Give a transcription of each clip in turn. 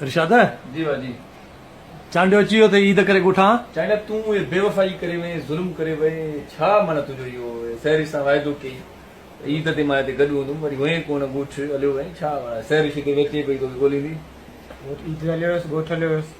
ارشاد! جي وا جي. چانڊيو اچي ويو تي عيد ڪري ڳوٺان. چانڊيا تون اهي بيوفائي ڪري وئين، ظلم ڪري وئين، ڇا معنيٰ تنهنجو اهو سهرش سان واعدو ڪيئي ته عيد تي مان هتي گڏ هوندم، وري هئين ڪونه ڳوٺ هليو وئين، ڇا معنيٰ سهرش هتي ويچي پئي توکي ڳوليندي. ڳوٺ عيد تي هليو ويس، ڳوٺ هليو ويس.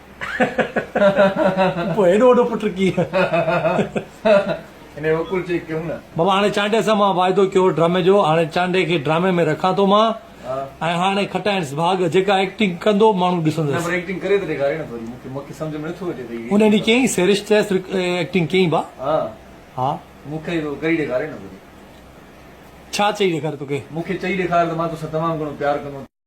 پوء هيڏو وڏو پٽ ڪيئن؟ بابا هاڻي چانڊيا سان مان واعدو ڪيو هو ڊرامي جو، هاڻي چانڊيا کي ڊرامي ۾ رکان ٿو مان ۽ هاڻي کٽائينس ڀاڳ، جيڪا ايڪٽنگ ڪندو ماڻهو ڏسندس. ان ڏينهن ڪيئي سريش چيس ايڪٽنگ ڪيئي با؟ ها. ڇا چئي ڏيکاري توکي؟